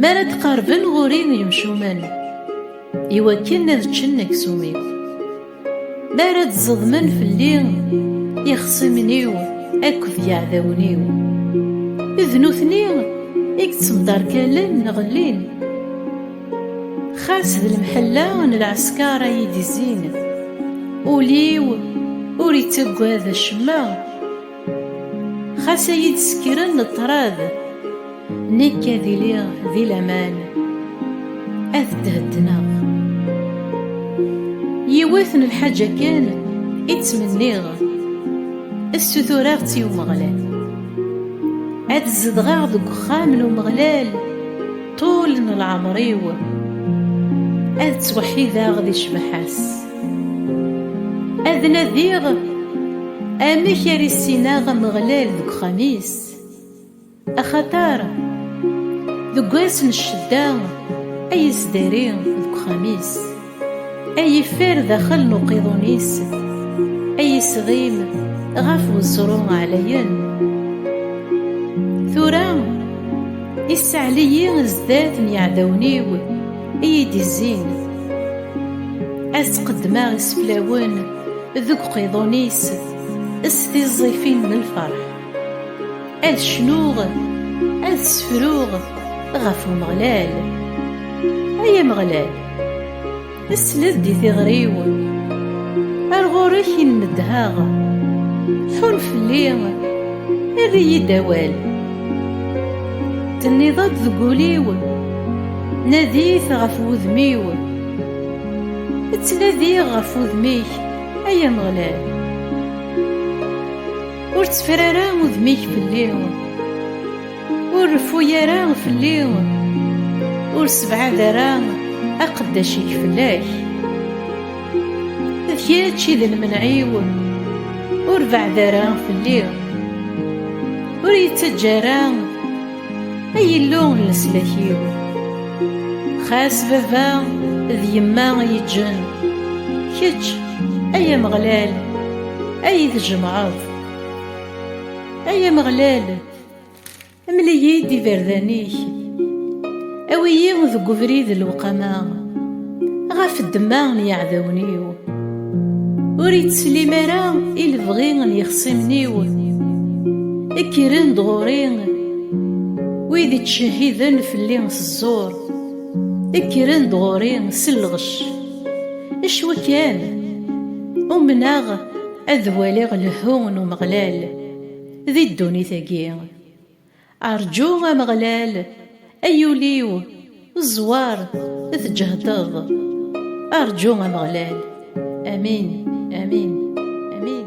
Mi ara d-qerben ɣur-i yemcumen, iwakken ad ččen aksum-iw. Mi ara d-ẓeḍmen fell-i yixṣimen-iw akked yiɛdawen-iw, d nutni i yettmderkalen ɣellin. Xas d lemḥella n lɛesker ay iyi-d-izzin, ul-iw ur yettaggad acemma. Xas ad iyi-d-sekkren ṭṭrad, nekk ad iliɣ di laman, ad d-heddneɣ. Yiwet n lḥaǧa kan i ttmenniɣ, ssutureɣ-tt i Umeɣlal. Ad zedɣeɣ deg uxxam n Umeɣlal ṭul n leɛmer-iw, ad ttweḥḥideɣ di ccbaḥa-s. Ad nadiɣ amek ara issineɣ Ameɣlal deg uxxam-is, axaṭer deg wass n ccedda ay isdari deg uxxam-is, ay iffer daxel n uqiḍun-is, ay isɣim ɣef weẓru ɛlayen. Tura, isseɛli-yi sdat n yiɛdawen-iw, iyi-d-izzin ad sqeddmeɣ iseflawen deg uqiḍun-is s tiẓẓifin n lferḥ ad cnuɣ ad sefruɣ ɣef umeɣlal ay ameɣlal sled i tiɣri-w ar ɣur-k i n-nedheɣ ḥun fell-i err-iyi-d awal tenniḍ-d deg ul-iw Nadit ɣef wudem-iw. Ttnadiɣ ɣef wudem-ik, ay Ameɣlal. Ur tteffer ara udem-ik fell-i. Ur reffu ara fell-i. Ur sebɛad ara aqeddac-ik fell-ak. D kečč i d lmenɛiw. Ur beɛɛed ara fell-i. Ur yi-ttaǧǧa ara. Ay Illu n leslak-iw, xas baba d yemma yeǧǧen, kečč, ay Ameɣlal, ay tjemɛeḍ. Ay Ameɣlal, mel-iyi-d iberdan-ik. Awi-yi deg ubrid n lewqama, ɣef ddemma n yiɛdawen-iw. Ur yettsellim ara i lebɣi n yixṣimen-iw, i kkren-d ɣur-i, wid ittcehhiden fell-i s ẓẓur, i kkren-d ɣur-i s lɣecc. Acwi kan, umneɣ ad waliɣ lehhu n Umeɣlal di ddunit-agi. Rǧu Ameɣlal, ay ul-iw, ẓwer, tǧehdeḍ. Rǧu Ameɣlal. Amin, amin, amin.